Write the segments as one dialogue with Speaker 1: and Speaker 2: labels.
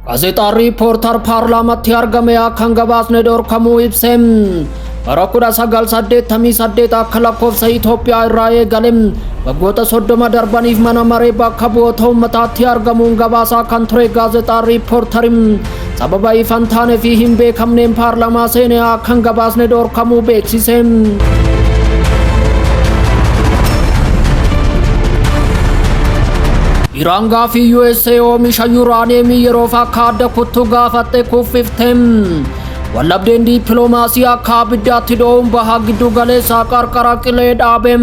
Speaker 1: Gaazexaan riippoortar paarlaamatti argame akkan gabaasne dhorkamuu ibse. Bara 1988 akka lakkoofsa Itoophiyaa irraa eegale waggoota 30 darbaniif mana maree bakka bu'oota uummataatti argamuun gabaasaa kan ture gaazexaan riippoortariin Sababa ifa hin taane fi hin beekamneen paarlamaa seenee akka hin gabaasne dhorkamuu beeksise. Iraan gaafii USA oomisha yuuraaniyeemii yeroof akka adda kuttu gaafatte kuffifte. Wallabdeen diippiloomaasii akka abiddaatti dho'uun baha giddu galeessaa qarqara qilee dhaabe.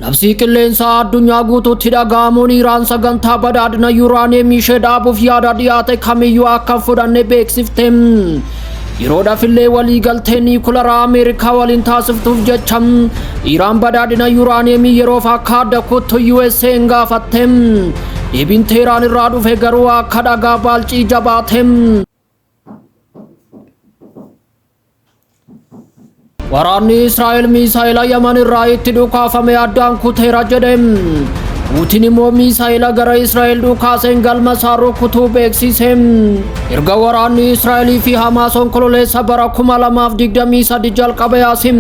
Speaker 1: Labsii qilleensaa addunyaa guutuutti dhaga'amuun Iraan sagantaa badhaadhina yuuraaniyeemii ishee dhaabuuf yaada dhiyaate kamiyyuu akka hin fudhanne beeksifte. Yeroodhaaf illee waliigaltee niikularaa Ameerikaa waliin taasiftuuf jecha Iraan badhaadhina yuuraaniyeemii yeroof akka adda kuttu USA'n gaafatte. Deebiin Teeraan irraa dhufe garuu akka dhagaa baalcii jabaate. Waraanni Israa'el miisaa'ela Yaman irraa itti dhukaafame addaan kuteera jedhe. Puutin immoo miisaa'ela gara Israa'el dhukaaseen galma isaa rukutuu beeksise. Erga waraanni Israa'elii fi Hamaas onkololeessa bara 2023 jalqabe asim.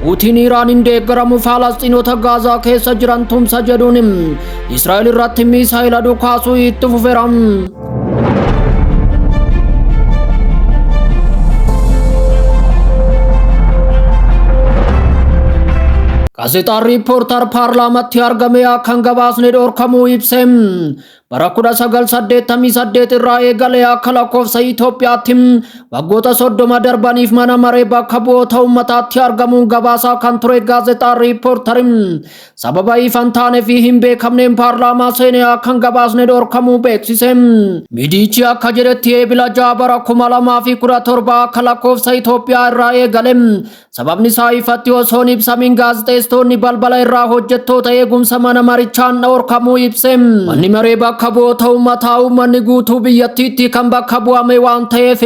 Speaker 1: Puutin Iraaniin deeggaramu Faalastiinota Gaazaa keessa jiran tumsa jedhuun Israa'el irratti miisaa'ela dhukaasuu itti fufeera. Gaazexaan riippoortar paarlaamatti argame akkan gabaasne dhorkamuu ibse. Bara 1988 irraa eegalee akka lakkoofsa Itoophiyaatti waggoota 30 darbaniif mana maree bakka bu'oota uummataatti argamuun gabaasaa kan ture gaazexaan riippoortariin Sababa ifan taane fi hin beekamneen paarlaamaa seenee akkan gabaasne dhorkamuu beeksise. Miidiyichi akka jedhetti eebila ja'a bara kuma lamaa fi kudha torba akka lakkoofsa Itoophiyaa irraa eegale. Sababni isaa ifatti osoo hin ibsamin gaazexeessitoonni balbala irraa hojjettoota eegumsa mana marichaan dhorkamuu ibse. Manni maree bakka bu'oota uummataa uummanni guutuu biyyattiitti kan bakka bu'ame waan ta'eef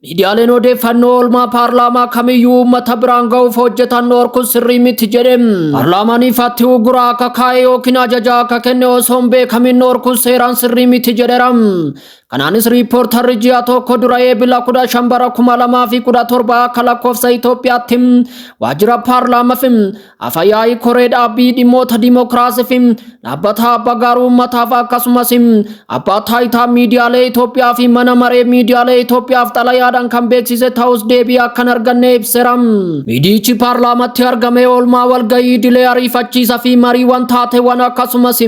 Speaker 1: Miidiyaaleen odeeffannoo oolmaa paarlaamaa kamiyyuu uummata biraan ga'uuf hojjetan dhorkuun sirrii miti jedhe. Paarlaamaan ifaatti uggura akka kaa'e yookiin ajaja akka kenne osoo hin beekamin dhorkuun seeraan sirrii miti jedheera. Kanaanis riippoortarri ji'a tokko dura eebila 15 bara 2017 akka lakkoofsa Itoophiyaatti waajjira paarlaamaaf Afayaa'ii koree dhaabbii dhimmoota dimokiraasii fi dhaabbata abbaa gaaruu uummataaf akkasumas abbaa taayitaa miidiyaalee Itoophiyaa fi mana maree miidiyaalee Itoophiyaaf xalayaadhaan kan beeksise ta'us deebii akkan arganne ibseera. Miidiyichi paarlaamatti argamee oolmaa walgahii idilee ariifachiisa fi mariiwwan taateewwan akkasumas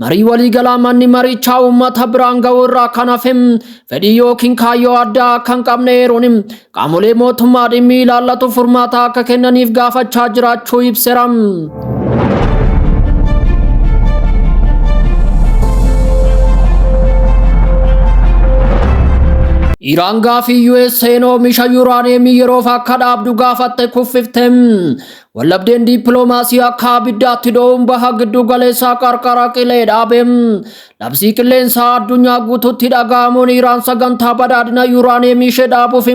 Speaker 1: Marii waliigalaa manni marichaa uummata biraan ga'uu irraa kan hafe fedhii yookiin kaayyoo addaa akka hin qabne eeruun qaamolee mootummaa dhimmi ilaallatu furmaata akka kennaniif gaafachaa jiraachuu ibseera. Iraan gaafii USA'n oomisha yuuraaniyeemii yeroof akka dhaabdu gaafatte kuffifte. Wallabdeen diippiloomaasii akka abiddaatti dho'uun baha gidduu galeessaa qarqara qilee dhaabe. Labsii qilleensaa addunyaa guutuutti dhaga'amuun Iraan sagantaa badhaadhina yuuraaniyeemii ishee dhaabuuf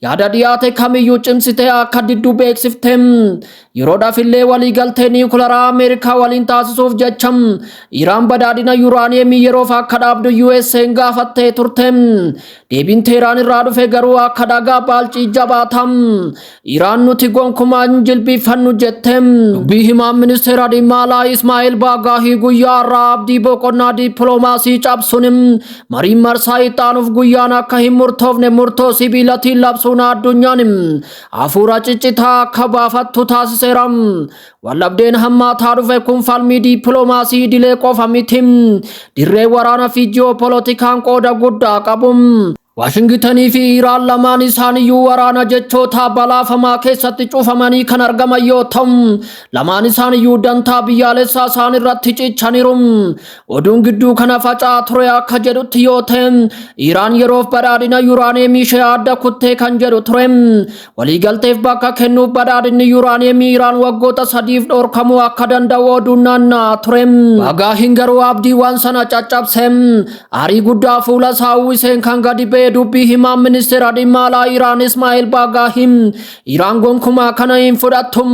Speaker 1: yaada dhiyaate kamiyyuu cimsitee akka diddu beeksifte. Yeroodhaaf illee waliigaltee niwukilaraa Ameerikaa waliin taasisuuf jecha Iraan badhaadhina yuuraaniyeemii yeroof akka dhaabdu USA'n gaafattee turte. Deebiin Teeraan irraa dhufe garuu akka dhagaa baalcii jabaatam. Iraan nuti gonkumaa hin jilbiifannu jette. Dubbii himaan ministeera dhimma alaa Ismaa'eel Baagaahii guyyaa har'aa abdii boqonnaa dippiloomaasii cabsuun mariin marsaa ittaanuuf guyyaan akka hin murtoofne murtoo sibiilatiin labsuun addunyaan hafuura ciccitaa akka baafattu taasiseera. Waldhabdeen hammaataa dhufe kun falmii dippiloomaasii idilee qofa miti. Dirree waraanaa fi ji'oopolotikaan qooda guddaa qabu. Waashingitanii fi Iraan lamaan isaaniyyuu waraana jechoota balaafamaa keessatti cufamanii kan argaman yoo ta'u, lamaan isaaniyyuu dantaa biyyaalessaa isaan irratti cichaniiru. Oduun gidduu kana faca'aa ture akka jedhutti yoo ta'e, Iraan yeroof badhaadhina yuraaneemii ishee adda kuttee kan jedhu ture. Waliigalteef bakka kennuuf badhaadhinni yuuraaniyeemii Iraan waggoota sadiif dhorkamuu akka danda'u oduun naanna'aa ture. Bagaa hin garuu abdiiwwan sana caccabse. Aarii guddaa fuula isaa uwwiseen kan gadi ba'e dubbii himaan ministeera dhimma alaa Iraan Ismaa'eel Baagaahiin Iraan gonkumaa kana hin fudhattu.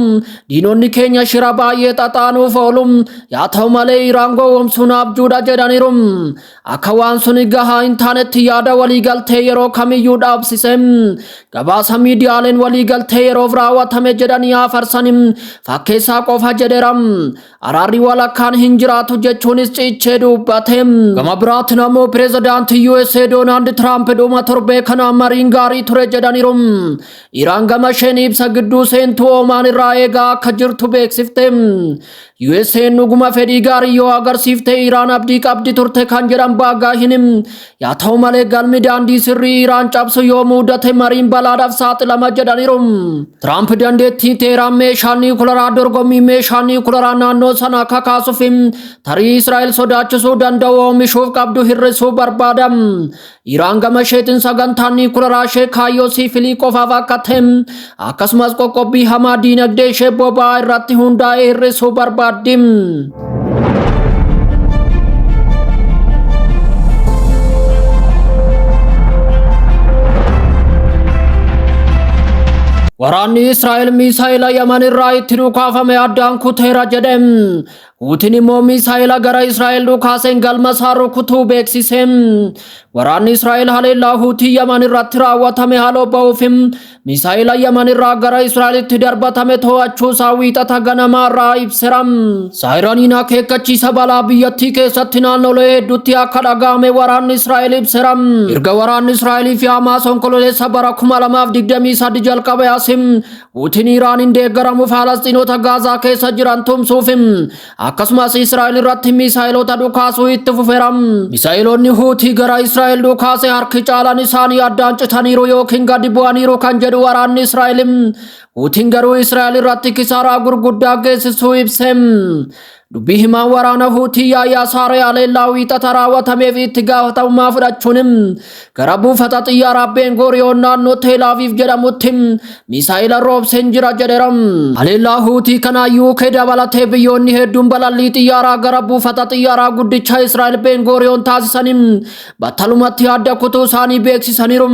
Speaker 1: Diinonni keenya shira baay'ee xaxaanuuf oolu. Yaa ta'u malee Iraan gowwomsuun abjuudha jedhaniiru. akka waan suni gahaa hin taanetti yaada waliigaltee yeroo kamiyyuu dhaabsise gabaasa miidiyaaleen waliigaltee yeroof raawwatame jedhanii hafarsan fakkeessaa qofa jedheera araarri walakkaan hin jiraatu jechuunis ciichee dubbate gama biraatiin ammoo pireezidaantii USA Doonaald Tiraamp dhuma torbee kana mariin gaarii ture jedhaniiru Iraan gama isheen ibsa gidduu seentuu Oomaan irraa eegaa akka jirtu beeksifte USA'n dhuguma fedhii gaarii yoo agarsiifte Iraan abdii qabdi turte kan jedhan Baagaahinim. Yaa ta'u malee galmi daandii sirrii Iraan cabsu yoo muudate mariin balaadhaaf saaxilama jedhaniiru. Tiraamp dandeettii Teeraan meeshaa niikularaa dorgommii meeshaa niikularaa naannoo sanaa kakaasuuf tarii Israa'el sodaachisuu danda'u oomishuuf qabdu hir'isuu barbaada. Iraan gama isheetiin sagantaan niikularaa ishee kaayyoo siifilii qofaaf akka ta'e akkasumas qoqqobbii hamaa diinagdee ishee boba'aa irratti hundaa'ee hir'isuu barbaaddi. Waraanni Israa'el miisaa'ela Yaman irraa itti dhukaafame addaan kuteera jedhe. Puutin immoo miisaa'ela gara Israa'el dhukaaseen galma isaa rukutuu beeksise. Waraanni Israa'el haleellaa Huutii Yaman irratti raawwatame haaloo ba'uuf miisaa'ela Yaman irraa gara Israa'elitti darbatame to'achuu isaa wiixata ganamaa irraa ibsera. Saayiraniin akeekkachiisa balaa biyyattii keessatti naannolee hedduutti akka dhaga'ame waraanni Israa'el ibsera. Erga waraanni Israa'elii fi Hamaas onkololeessa bara 2023 jalqabe asim Puutin Iraaniin deeggaramu Faalastiinota Gaazaa keessa jiran tumsuuf akkasumas Israa'el irratti miisaa'iloota dhukaasuu itti fufeera. Miisaa'iloonni Huutii gara Israa'el dhukaase harki caalaan isaanii addaan citaniiru yookiin gadi bu'aniiru kan jedhu waraanni Israa'el. Huutiin garuu Israa'el irratti kisaaraa gurguddaa geessisuu ibse. Dubbii himaan waraana Huutii Yaayaa Saaree Aleellaa wiixata raawwatameef itti gaafatamummaa fudhachuun gara buufata xiyyaaraa Ben Guriyoon naannoo Teel Aviiv jedhamutti miisaa'ila roobseen jira jedheera. Aleellaa Huutii kana UK dabalatee biyyoonni hedduun balallii xiyyaaraa gara buufata xiyyaaraa guddicha Israa'el Ben Guriyoon taasisaniin battalumatti adda kutuu isaanii beeksisaniiru.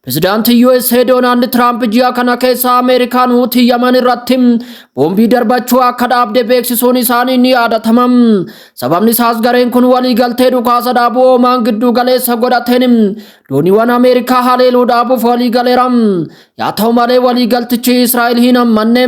Speaker 1: Pirezidaantiin USA Doonaald Tiraamp ji'a kana keessa Ameerikaan Huutii Yaman irratti boombii darbachuu akka dhaabde beeksisuun isaanii ni yaadatama. Sababni isaas gareen kun waliigaltee dhukaasa dhaabuu Oomaan gidduu galeessa godhateen dooniiwwan Ameerikaa haleeluu dhaabuuf waliigaleera. Yaa ta'u malee waliigaltichi Israa'el hin hammanne.